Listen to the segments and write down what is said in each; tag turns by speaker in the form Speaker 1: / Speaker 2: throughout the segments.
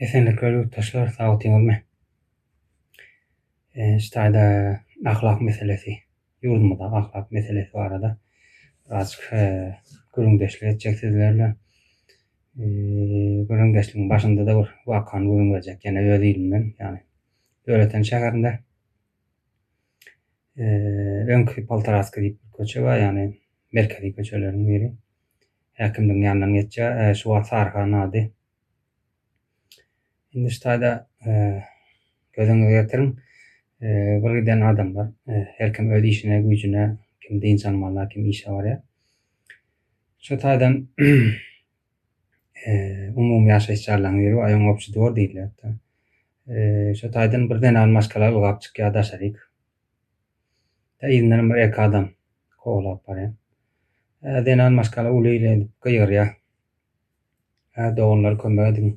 Speaker 1: Esenlikler ýurtdaşlar sagtyňyzmy? Ştaýda ahlak meselesi ýurdumyzdaky ahlak meselesi barada birazjyk gürrüňdeşlik etjek sizler bilen. Gürrüňdeşligiň başynda-da bir wakany gürrüň berjek ýene öz ilimden ýagny Döwleten şäherinde öňki Poltaraski diýip köçe bar ýagny merkezi köçeleriň biri. häkimligiň ýanyndan geçýär. Ee, şu wagt Saryhan ady. Indi şu taýda gözüňize getiriň. Ee, bir giden adamlar, her kim öz işine, güýjüne, kim dynç almalyna, kim işe barýar. Şu taýdan ee, umumy ýaşaýyş jaýlaryň biri, aýoň obşi dwor diýilýär. Ee, şu taýdan bir zenan maşgala ylgap çykýar daşaryk. Tä yzyndanam bir-iki adam kowlap barýar. Hä, zenan maşgala uly-le edip gygyrýar. Hä, doganlar kömek ediň,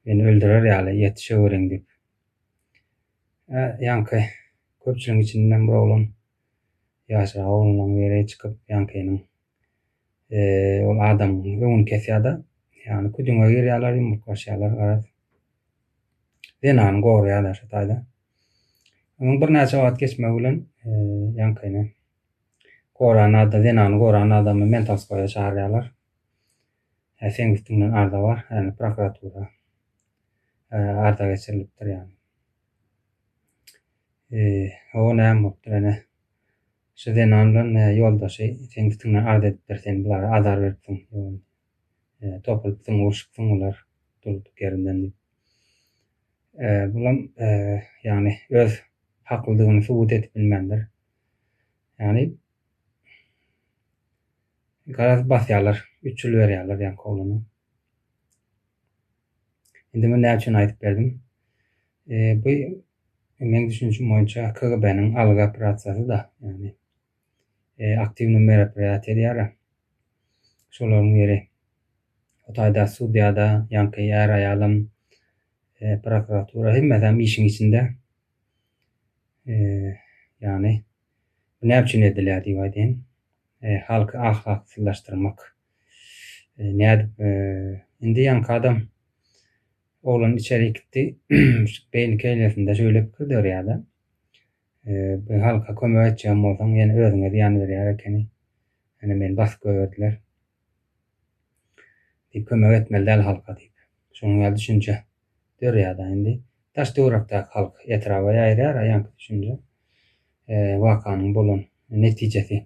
Speaker 1: meni öldürer ýaly, ýetişeweriň diýip. Hä, ýaňky köpçüligiň içinden bir oglan, ýaşyrak oglanlaryň biri çykyp, ýaňkynyň. ol adamyň öňüni kesýär-de, ýagny küdüňe girýärler, ýumruklaşýarlar, garaz. Zenany goraýarlar şu taýda. Onuň birnäçe wagt geçmegi bilen ýaňkyny goran adam, zenany goran adamy Mentalskoýa çagyrýarlar. Hä, seň üstüňden arza bar, ýagny prokuratura arza geçirilipdir ýagny. O näme bolupdyr ene? Şu zenan bilen nä ýoldaşy seň üstüňden arz edipdir sen bulara azar beripsiň ýogyn e topulypsyň urşupsyň bular durduk ýerinden diýip e bulam e ýagny öz haklydygyny subut edip bilmändir ýagny garaz basýarlar üç ýyl berýärler ýaňky oglana Indi men näme üçin aýdyp berdim? Bu meň düşünişim boýunça KGB-niň algy operasiýasy-da, ýagny aktiwny meraperiýat edýär-ä. Şolaryň biri o taýda sudýa-da, ýaňky är-aýalam, prokuratura, hemmesem işiň içinde. Ýagny bu näme üçin edilýär diýip aýdaýyn, halky ahlaksyzlaşdyrmak. Ş, nädip, indi ýaňky adam oglan içerik gitdi, beýni keýlesinde şeýle pikir dörýär-de, bu halka kömek etjegem bolsaň, ýene özüňe zyýan berýär ekeni, ýöne meni basyp goýberdiler. Diýip, kömek etmeli däl halka diýip, şunuň ýaly düşünje dörýär-de, indi daş-töwerekdäki halk etraba ýaýrýar-a ýaňky düşünje, wakanyň bolan netijesi.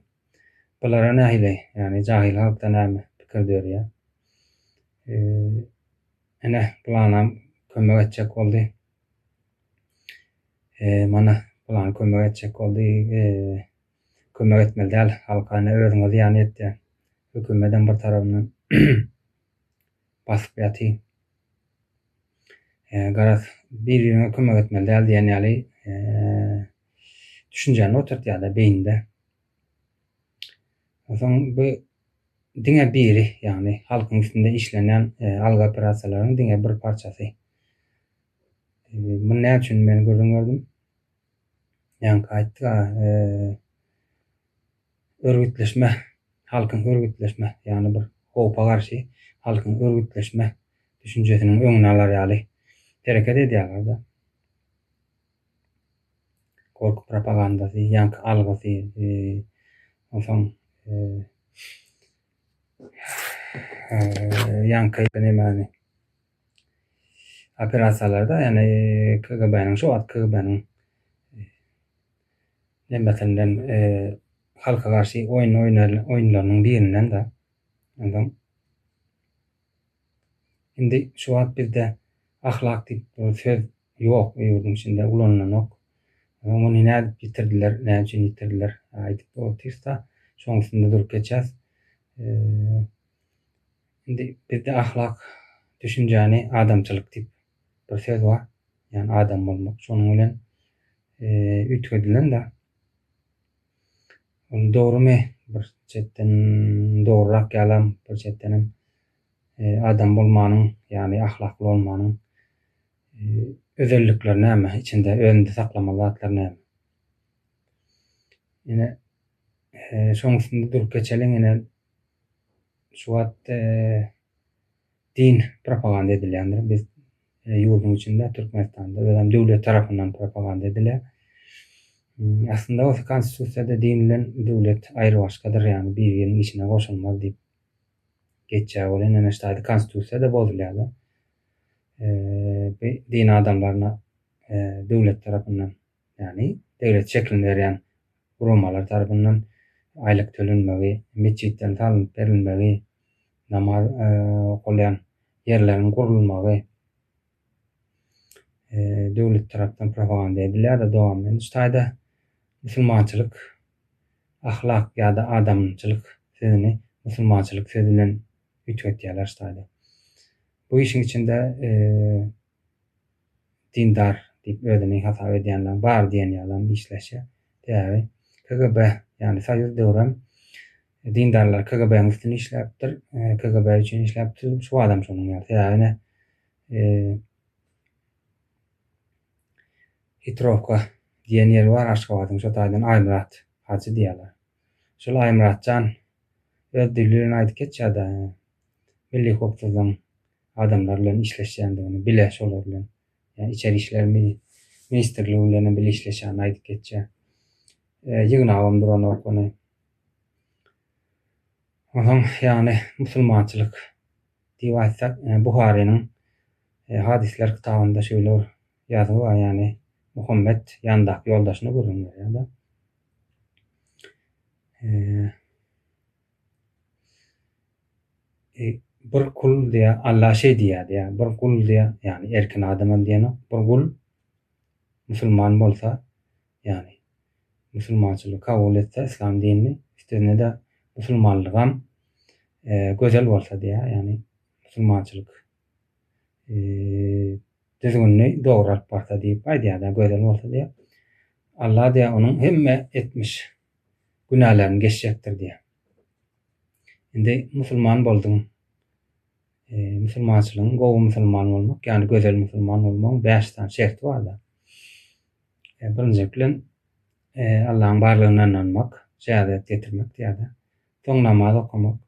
Speaker 1: Bulara nähili, ýagny jahyl halkda näme pikir dörýär? Ene, bulanam kömek etjek boldy. Mana, bulan kömek etjek boldy. Kömek etmeli däl, halka ene özüňe zyýan ýetýär. Hökümetem bir tarabyndan basyp ýatyr. Garaz, bir-biriňe kömek etmeli däl diýen ýaly düşünjäni oturtýarlar beýninde. Onsoň bu diňe biri, ýagny halkyň üstünde işlenýän algy operasiýalaryň diňe bir parçasy. Muny näme üçin men gürrüň berdim? Ýaňky aýtdyk, örgütleşme, halkyň örgütleşme, ýagny bir howpa garşy halkyň örgütleşme düşünjesiniň öňüni alar ýaly hereket edýärler-de. Gorky propagandasy, ýaňky algysy, onsoň ýaňky nemäni operasiýalarda, ýagny KGB-niň şo wagt KGB-niň nembesinden halka garşy oýun oýunlarynyň birinden-de. Onsoň indi şu wagt bizde ahlak diýip söz Ýok, ýurduň içinde ulanylanok. Ony nädip ýitirdiler, näme üçin ýitirdiler? Aýdyp otyrsa, şoň üstünde durup geçýäs. Indi bizde ahlak düşünjäni adamçylyk diýip bir söz bar. Ýagny adam bolmak. Şonuň bilen üýtgedilen-de. Ol dogrumy? Bir çetden dogrurak ýalam, bir çetdenem. Adam bolmanyň, ýagny ahlakly bolmanyň özellikleri näme? Içinde, özünde saklamaly zatlar näme? Ine, şoň üstünde durup geçeliň, ine, şu wagt din propaganda edilýändir. Biz ýurduň içinde, Türkmenistanda, özem döwlet tarapyndan propaganda edilýär. Aslynda bolsa Konstitusiýada din bilen döwlet aýrybaşgadyr, ýagny bir-biriniň içine goşulmaz diýip. Geçýär ol ene neşt ady konstitusiýada bozulýada bi din adamlaryna döwlet tarapyndan ýagny deglet şeklini berýän guramalar tarapyndan aýlyk tölenmegi metjitden salnyp berilmegi namaz okalýan ýerleriň gurulmagy döwlet tarapdan propaganda edilýär-de dowamly. Indi şu taýda musulmançylyk, ahlak ýa-da adamçylyk sözüni musulmançylyk sözi bilen üýtgetýärler şu taýda. Bu işiň içinde dindar diýip özüni hasap edýänler bar diýen ýalam işleşýär. Sebäbi KGB, ýagny Soýuz döwrem Dindarlar KGB-niň üstüne işläpdir, KGB üçin işläpdir. Şu adam şonuň ýaly. Sebäbi ine Hitrowka diýen ýeri bar Aşgabadyň şo taýdan Aýmyrat hajy diýýärler. Şol Aýmyratjan öz dili bilen aýdyp geçýär-de, Milli howpsuzlygyň adamlary bilen işleşýändigini, bile şolar bilen, ýa içeri işler ministrligi bilenem bile işleşýänini aýdyp geçýär. Ýygnabam duranok ony. Onuň ýaly musulmançylyk diýip aýtsak, Buharynyň Hadyslar kitabynda şeýle bir ýazgy bar, ýagny Muhammet ýanyndaky ýoldaşyna gürrüň berýär-de. Bir kul diýýär, Alla şeý diýýär diýýär, bir gul diýýär, ýagny erkin adama diýenok, bir gul musulman bolsa, ýagny musulmançylygy kabul etse, yslam dinini, üstesine-de musulmanlygam gözel bolsa diýýär, ýagny musulmançylyk düzgünini dogry alyp barsa diýip aýdýar-da, gözel bolsa diýýär. Allah diýýär, onuň hemme etmiş günälerini geçjekdir diýýär. Indi musulman bolduň. Musulmançylygyň gowy musulman bolmak, ýagny gözel musulman bolmagyň bäş sany şerti bar-da. E, birinji bilen e, Allahyň barlygyna ynanmak, şehadat getirmek diýýärler. Soň namaz okamak.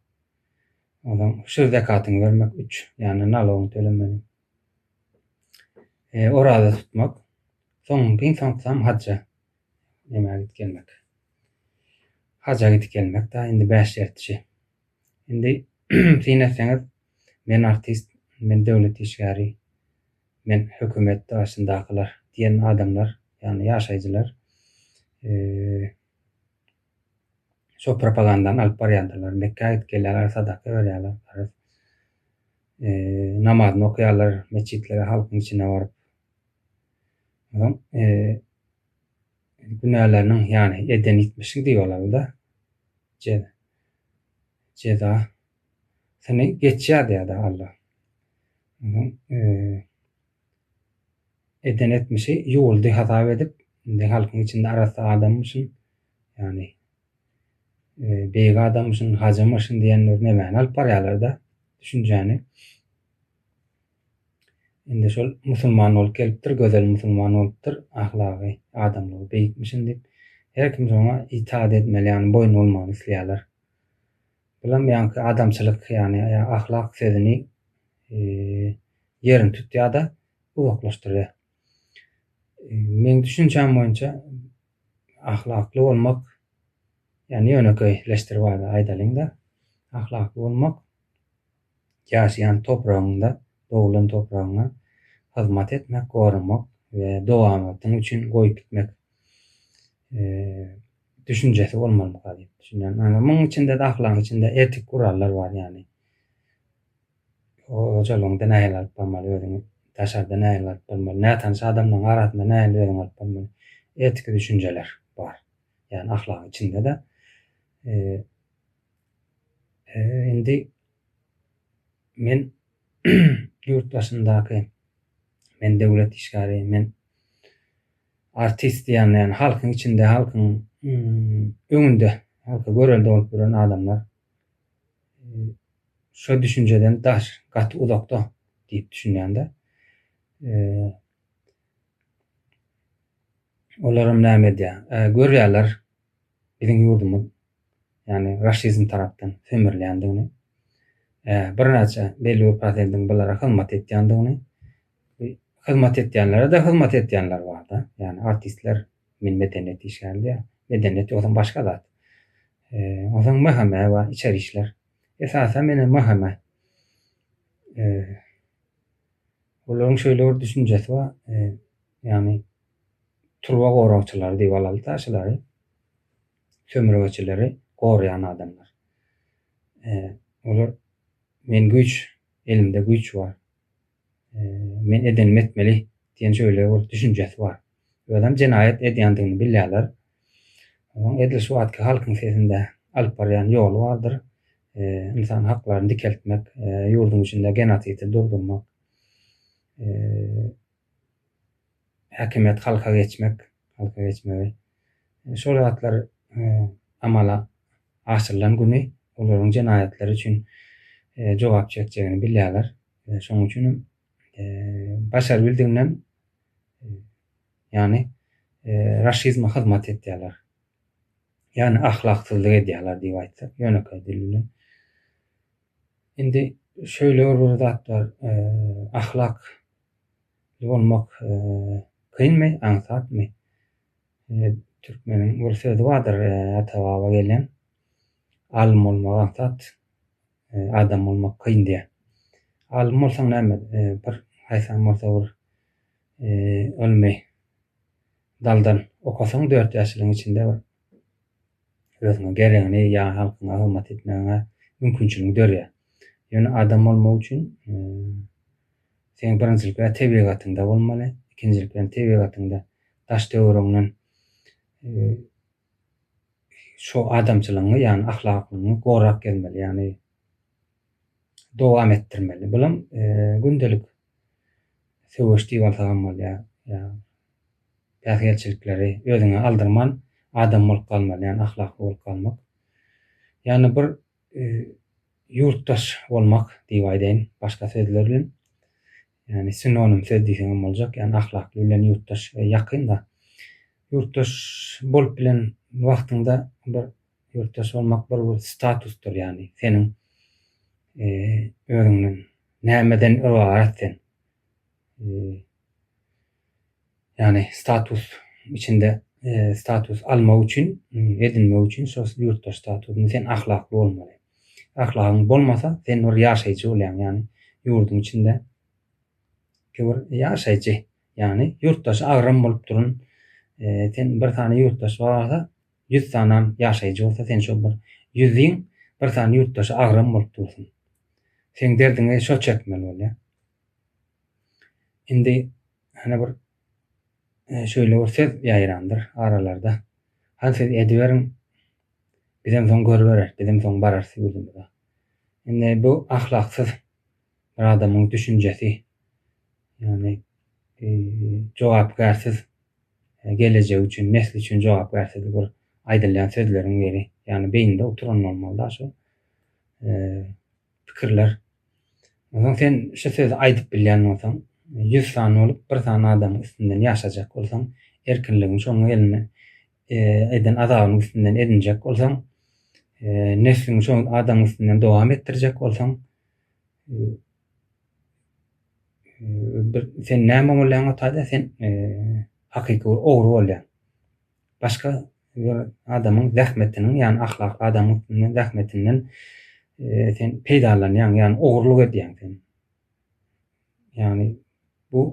Speaker 1: Ondan şu zakatyňy bermek 3, ýagny nalogyňy tölemeli. E, oraza tutmak. Soň giň soňsam hajja. Näme gidip gelmek. Hajja gidip gelmek da indi 5 şertçi. Indi syn etseňiz men artist, men döwlet işgäri. Men hökümet daşyndakylar diýen adamlar, ýagny ýaşaýjylar şo propagandany alyp barýardyrlar. Mekgä gidip gelýärler, sadaka berýärler, farz namazyny okaýarlar, metjitlere halkyň içine baryp. Onuň günäleriniň, ýagny eden etmişi diýip alarlar-da, jeza. Seni geçýär diýýärdi Alla. Onsoň eden etmişi ýuwuldy hasap edip, indi halkyň içinde arassa adammyşyn, ýagny beýik adammyşyn, hajymyşyn diýenler nemäni alyp barýarlar-da düşünjäni. Indi şol musulman bolup gelipdir, gözel musulman bolupdyr, ahlagy, adamlygy beýikmişin diýip, her kim şoňa itaat etmeli, ýagny boýun bolmagyny isleýärler. Bilim ýaňky adamçylyk ýany ahlak sözüni ýerini tutýada uzaklaşdyrýa. Meň düşünjäm boýunça ahlakly bolmak ýani ýönekeý leşdirip aýdalyňda ahlakly bolmak ýaşaýan topragyňda doglan topragyňa hyzmat etmek goramak we dowamatyň üçin goýup gitmek. düşünjesi bolmalydyga diýip düşünýän. Ýani muň içinde ahlagyň içinde etik gurallar bar ýani. Hojalygyňda nähili alyp barmaly özüňi, daşarda nähili alyp barmaly, nätanyş adamlaryň arasynda nähili özüňi alyp barmaly. Etiki düşünjeler bar. Ýani ahlagyň içinde-de. Indi men ýurt başyndaky men döwlet işgäri, men Artist diýende ýagny halkyň içinde halkyň öňünde halka görelde bolup ýören adamlar şo düşünjeden daş gaty uzakda diýip düşünýände olaram näme edýär görýärler biziň ýurdumyz ýagny raşizm tarapdan sömürilýändigini birnäçe belli bir prosentiň bulara hyzmat etýändigini hyzmat etýänlere-de hyzmat edýänler bar-da. Ýagny artistler men medeniýet işgäri diýýän. Medeniýet ýogsam başga zat. Onsoň MHM bar, içeri işler. Esasan meni MHM olaryň şeýle bir düşünjesi bar, ýagny turba goragçylary diýip alaly da şulary. Sömürgeçileri goraýan adamlar. Olar men güýç, elimde güýç bar. Men edenimi etmeli diýen şöyle bir düşünjesi bar. Özem jenaýat edýändigini bilýärler. Onuň edil şu wagtky halkyň sesinde alyp barýan ýoly bardyr. Ynsan haklaryny dikeltmek, ýurduň içinde genosidi durdurmak, häkimiýet halka geçmek, halka geçmegi. Şol zatlar amala aşyrylan güni olaryň jenaýatlary üçin jogap çekjegini bilýärler. Ýöne şonuň üçin hem başar bildiginden ýany raşizme hyzmat etýärler. Ýani ahlaksyzlyk edýärler diýip aýtsak, ýönekeý dil bilen. Indi şöyle bir zat bar, e, ahlak bolmak e, kynmy, aňsatmy? E, türkmeniň bir sözi bardyr, e, ata baba gelen. Alym bolmak aňsat, adam bolmak kyn diýýär. Alym bolsaň näme, bir haýsam bolsa bir ylmy daldan okasaň dört ýaşlygyň içinde bir özüňe geregini ýa halkyňa hyzmat etmegiňe mümkinçiligiň dörýär. Ýöne adam bolmak üçin seň birinjilik bilen tebigatyňda bolmaly, ikinjilik bilen tebigatyňda daş-töweregiňden şo adamçylygyňy ýagny ahlaklygyňy gorap gezmeli ýagny dowam etdirmeli bulam gündelik söweş diýip alsagam bolýar ýa päsgelçilikleri özüňe aldyrman adam bolup galmaly ýagny ahlakly bolup galmak ýagny bir ýurtdaş bolmak diýip aýdaýyn başga sözler bilen Ýagny sinonim söz diýseň hem boljak. Ýagny ahlakly bilen ýurtdaş ýakyn-da. Ýurtdaş bolup bilen wagtyňda bir ýurtdaş bolmak bir statusdyr ýagny seniň özüňden nämeden ybarat sen. Ýagny status içinde status almak üçin edinmek üçin şo ýurtda statusyny sen ahlakly bolmaly. Ahlagyň bolmasa sen bir ýaşaýjy bolýaň ýagny ýurduň içinde bir ýaşaýjy ýagny ýurtdaşy agram bolup durun sen bir sany ýurtdaş barsa ýüz sanam ýaşaýjy bolsa sen şo bir ýüzüň bir sany ýurtdaşy agram bolup dursun. Seň derdiňi şo çekmeli bolýar. Indi hany bir e, şöyle bir söz ýaýrandyr aralarda. Han siz ediberiň, bizem soň görübereris, bizem soň bararys ýurdumyza. Indi bu ahlaksyz bir adamyň düşünjesi, ýagny e, jogapkärsiz e, gelejek üçin, nesli üçin jogapkärsiz bir aýdylýan sözleriň biri. Ýagny beýninde oturan bolmaly da şu. E, Pikirler. Onsoň sen şu sözi aýdyp bilýän bolsaň, ýüz sany bolup bir sany adamyň üstünden ýaşajak bolsaň, erkinligiň şoňa gelende eden azabynyň üstünden edinjek bolsaň, nesliňi şo adamyň üstünden dowam etdirjek bolsaň, sen näme bolýaň ota-da, sen hakyky bir ogry bolýaň. Başga bir adamyň zähmetiniň, ýagny ahlakly adamyň üstünden zähmetinden sen peýdalanýaň, ýagny ogurlyk edýäň sen. Ýagny bu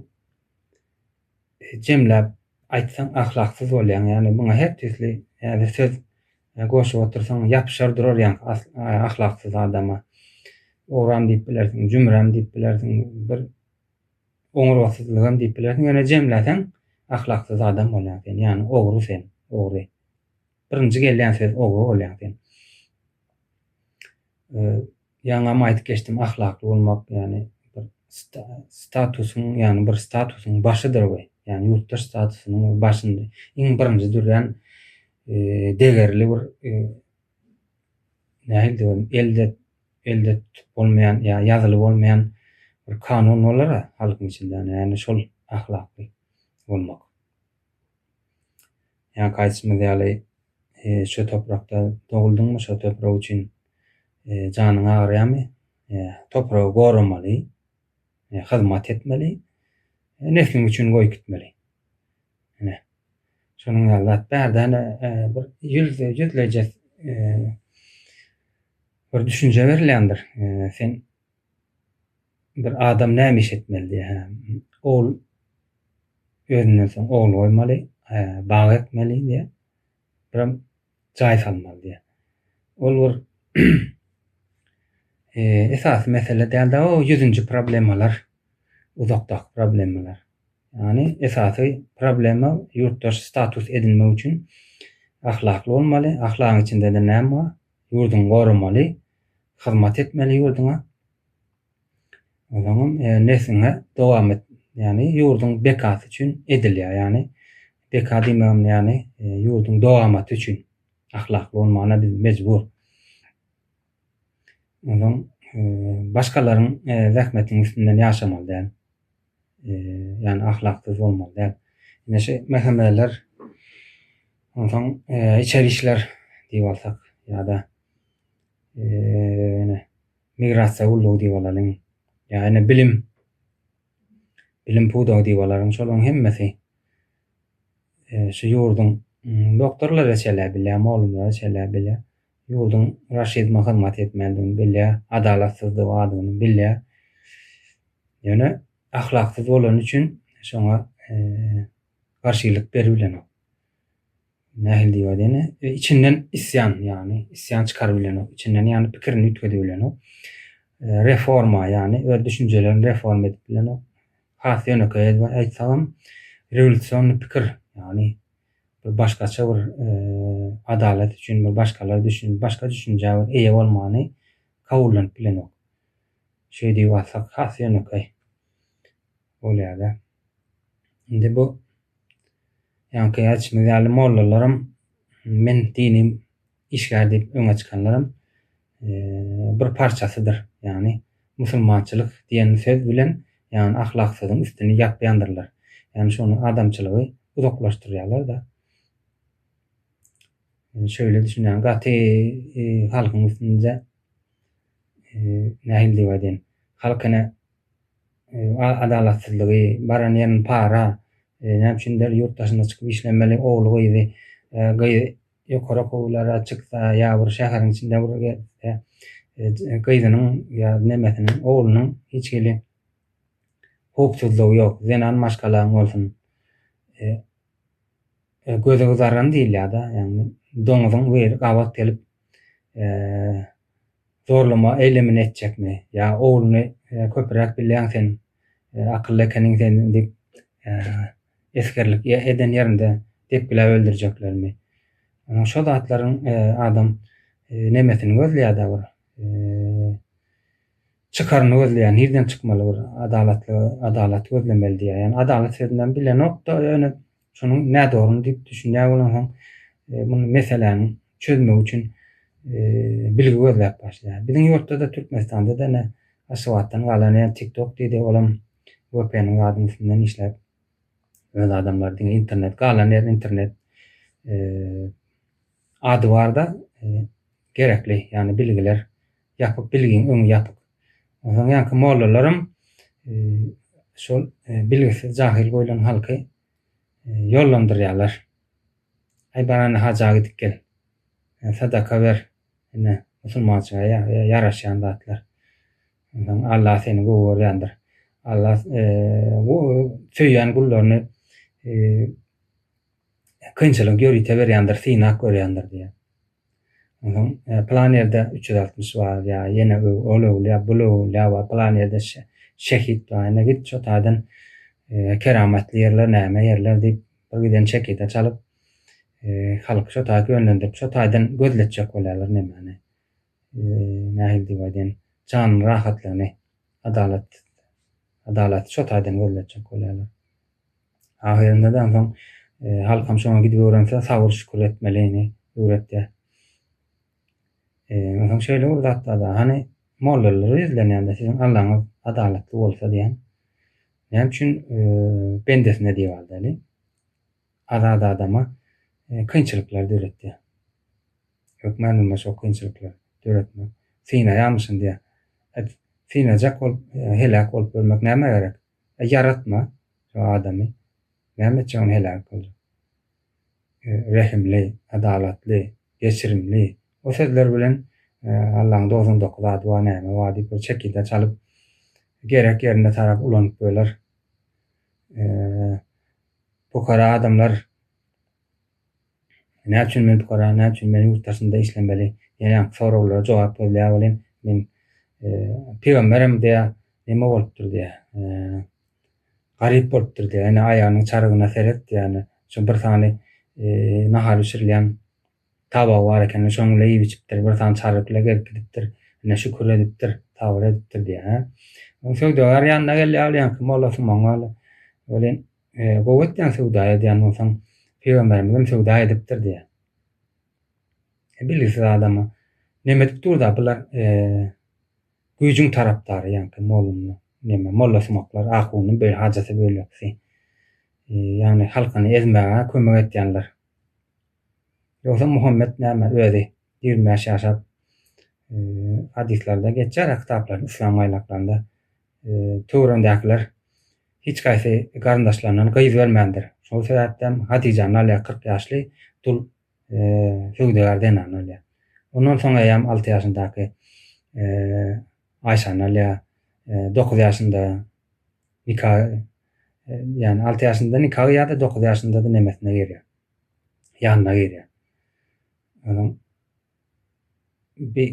Speaker 1: jemläp aýtsaň ahlaksyz bolýaň, ýagny muňa her türli ýa-da söz goşup otursaň ýapyşar durar ýaňky ahlaksyz adama. Ogran diýip bilersiň, jümrem diýip bilersiň, bir Oňurgasyzlygam diýip bilersiň, ýöne jemläseň ahlaksyz adam bolýaň sen, ýagny ogry sen, ogry. Birinji gelýän söz ogry bolýaň sen. Ýaňam aýdyp geçdim, ahlakly bolmak, ýagny statusyň, ýagny bir statusyň başydyr we ýagny ýurtdaş statusynyň başynda iň birinji durýan degerli bir nähilidir bir elde elde tutup bolmaýan ýa ýazyly bolmaýan bir kanun bolar-a halkyň içinde ýa ýa-ni şol ahlakly bolmak. Ýa gaýtymyz ýaly e, şu toprakda doguldyňmy, şu toprak üçin e, janyň agyrýarmy? E, topragy goramaly. hyzmat etmeli, nesliň üçin goýup gitmeli. Ine, şonuň ýaly zat bärde-ne bir ýüz, ýüzleje bir düşünje berilýändir. Sen bir adam näme iş etmeli diýe, hä, ol özünden soň ogul goýmaly, bag ekmeli diýe. Biram jaý salmaly diýýär. Ol bir esasy mesele däldi, o ýüzünji problemalar, uzakdaky problemalar. Ýani esasy problema ýurtdaş status edinmek üçin ahlakly bolmaly, ahlagyň içinde-de näme bar? Ýurduňy goramaly, hyzmat etmeli ýurduňa. Ozaňam nesliňe dowam et. Ýagny ýurduň bekasy üçin edilýär. Ýagny beka diýmegim ýagny e, ýurduň dowamaty üçin ahlakly bolmagyna biz mejbur. Ozaň e, başgalaryň e, zähmetiň üstünden ýaşamaly däl. Ýagny ahlaksyz bolmaly däl. Ine şu mehemeler onsoň içer işler diýip alsak ýa-da ýene migrasiýa gullugy diýip alalyň, ýa ine bilim, bilim pudagy diýip alalyň, şolaryň hemmesi şu ýurduň doktorlary şeýle bilýär, mugallymlary şeýle bilýär, ýurduň raşizme hyzmat etmändigini bilýär, adalatsyzlygy bardygyny bilýär. Ýöne ahlaksyz bolany üçin şoňa garşylyk beribilenok. Nähili diýip aýdaýyn, e, içinden isýan, ýagny isýan çykaryp bilenok, içinden ýagny pikirini üýtgedip bilenok. E, reforma, ýagny öz düşünjelerini reforma edip bilenok. Has ýönekeý edip aýtsagam, rewolýusion pikir, ýagny bir başgaça bir e, adalat üçin bir başgalar düşün, başga düşünjä bir eýe bolmany kabullanyp bilenok. Şeýdip aýtsak has ýönekeý. bolýada. Indi bu ýaňky aýtşymyz ýaly mollalaram men dini işgär diýip öňe çykanlaram bir parçasydyr. Ýagny musulmançylyk diýen söz bilen ýagny ahlaksyzyň üstüni ýapýandyrlar. Ýagny şony adamçylygy uzaklaşdyrýarlar-da. Şöýle düşünýän gaty halkyň üstünde nähili diýip aýdaýyn halk ene adalatsyzlygy, baran ýerin para, näme üçindir ýurt daşyna çykyp işlemeli ogly gyzy, gyz ýokary okuwlara çyksa ýa bir şäheriň içinde bir gezse, gyzynyň ýa nemesiniň, oglunyň hiç hili howpsuzlygy ýok, zenan maşgalaň bolsun, gözi gyzaran diýilýär-de, ýagny doňuzyň weli gabat gelip zorlama eylemini etjekmi ya oglunu köpüräk bilyan sen akylly ekeniň sen dip esgerlik eden yerinde depgilap öldürjeklermi şo zatlaryň adam nemesini gözleyada bir çykaryny gözleýär nirden çykmaly bir adalatly adalat gözlemeli diýýär ýani adalat sözünden bilenokda ýöne Şonuň nädogryny diýip düşünýär bolansoň, muny meseläni çözmek üçin bilgi gözläp başlaýar. Biziň ýurtda-da, Türkmenistanda-da ine, Aşgabatdan galan ýa TikTok diýdi, olam VPN-iň zadynyň üstünden işläp, öz adamlary diňe internet, galan ýer internet. Ady barda gerekli ýany bilgiler ýapyk bilgiň öňi ýapyk. Onsoň ýanky mollalaram şol bilgisiz jahyl goýlan halky ýollandyrýarlar. Aý barany haja gidip gel. Sadaka ber. Ine musulmançyga ýaraşýan zatlar. Onsoň Allah seni gowy görýändir. Allah söýýän gullaryny kynçylyk ýörite berýändir, synag görýändir diýýär. Onsoň plan ýerde üç ýüz altmyş bar ýa ýene ol öwlüýä, bul öwlüýä bar, plan ýerde şehit bar, ine git şo taýdan keramatly ýerler näme ýerler diýip bir giden çekide çalyp halky şo taýy ýönlendirip şo taýdan gözletjek bolýarlar nemäni. Nähili diýip aýdaýyn, janyň rahatlygyny, adalat, adalaty şo taýdan gözletjek bolýarlar. Ahyrynda-da onsoň halkam şoňa gidip öwrense, sabyr-şükür etmelini öwretýär. Onsoň şeýle bir zat bar-da, hany, mollalary ýüzlenýän-de, siziň Allaňyz adalatly bolsa diýen, näme üçin bendesine diýip aldaly? Azat adama kynçylyklar döretýär. Hökman bolmaz şo kynçylyklar döretmek. Synaýamyşyn diýä. Et, synajak bolup, heläk bolup ölmek nämä gerek? E, ýaratma şo adamy. Näme etjek ony heläk boljak? E, rehimli, adalatly, geçirimli. O sözler bilen e, Allaň dogsan dokuz zady bar, näme bar diýip bir çekide çalyp, gerek ýerinde tarap ulanyp böler. Pukara adamlar näme üçin men pukara, näme üçin men ýurt daşynda işlemeli diýen ýaňky soraglara jogap gözleýär welin, men pygamberem diýýär, näme bolupdyr diýýär, garyp bolupdyr diýýär, ine aýagynyň çarygyna seret diýýär, şu bir sany nahar bişirilýän Tabagy bar eken, şonuň bile iýip-içipdir, bir sany çaryk bile gezip gidipdir. Ine, şükür edipdir, sabyr edipdir diýýär, hä? Soň söwdagär ýanyna gelýär, ol ýaňky molla Sumaň ýaly. Welin, gowy etýäň söwda edýän bolsaň, pygamberimizem söwda edipdir diýýär. Bilgisiz adama, Näme edip dur-da bular, güýjüň tarapdary ýaňky mollumyň, neme, molla Sumaklar, ahunyň beýle hajysy-bölekisi. Ýagny halkyny ezmäge kömek edýänler. Ýogsa Muhammet näme özi ýigrimi bäş ýaşap hadyslarda geçýär a kitaplarda yslam gaýnaklarynda töweregindäkiler hiç gaýsy garyndaşlaryndan gyz bermändir şol sebäpden Hadyjany alýar kyrk ýaşly dul söwdagär zenany alýar ondan soň eýýäm alty ýaşyndaky Aýşany alýar dokuz ýaşynda nika ýany alty ýaşynda nika gyýýarda dokuz ýaşyndada nemesine girýär ýanyna girýär. Onuň bir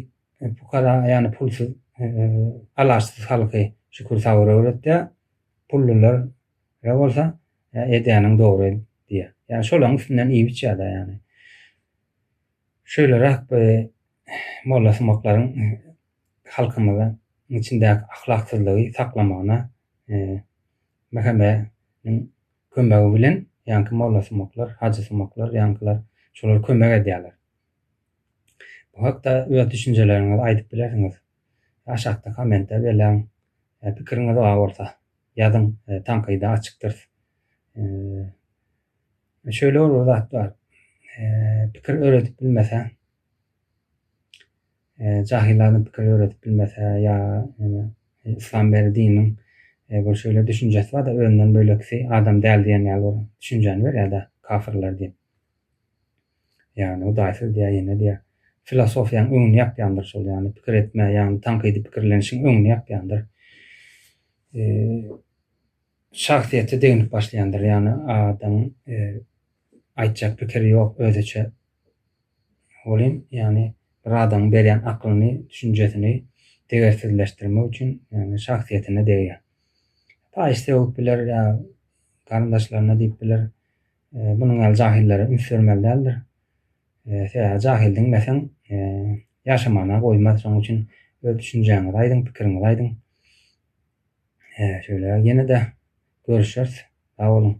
Speaker 1: pukara, ýani pulsuz, alaçsyz halky şükür-sabyr öwretýär. Pullular ýa bolsa, edýäniň dogry diýýär. Ýani şolaryň üstünden iýip-içýär-de ýani. Şeýleräk bir mollasumaklaryň halkymyzyň içindäki ahlaksyzlygy saklamagyna Mehemeniň kömegi bilen ýaňky mollasumaklar, hajysumaklar ýaňkylar şolar kömek edýärler. Bu hakda öz düşünjeleriňizi aýdyp bilersiňiz. Aşakda kommente beläň. Pikiriňiz bar bolsa, ýazyň, tankyda açykdyrys. Şöyle bir zat bar. Pikir öwredip bilmeseň. Jahyllardan pikir döredip bilmese ýa neme yslam beri diniň bir şeýle düşünjesi barda özünden bölekisi adam däl diýen ýaly bir düşünjäni berýärda kafyrlar diýip ýagny hudaýsyz diýýär ýene diýýär filosofiýaň öňüni ýapýandyr şol ýagny pikir etme ýagny tankydy pikirlenişiň öňüni ýapýandyr şahsyýete deginip başlaýandyr ýagny adamyň Aýtjak pikiri ýok özüçe welin ýagny bir adamyň berýän aklyny düşünjesini degersizleşdirmek üçin ýagny şahsyýetine degýär. Paýyş sögüp biler ýa garyndaşlaryna diýip biler. Bunuň ýaly jahillere üns bermeli däldir. Sebäbi jahyl diňleseň ýaşamana goýmaz şonuň üçin öz düşünjäňizi aýdyň pikiriňizi aýdyň. Şeýle ýene-de görüşeris sag boluň.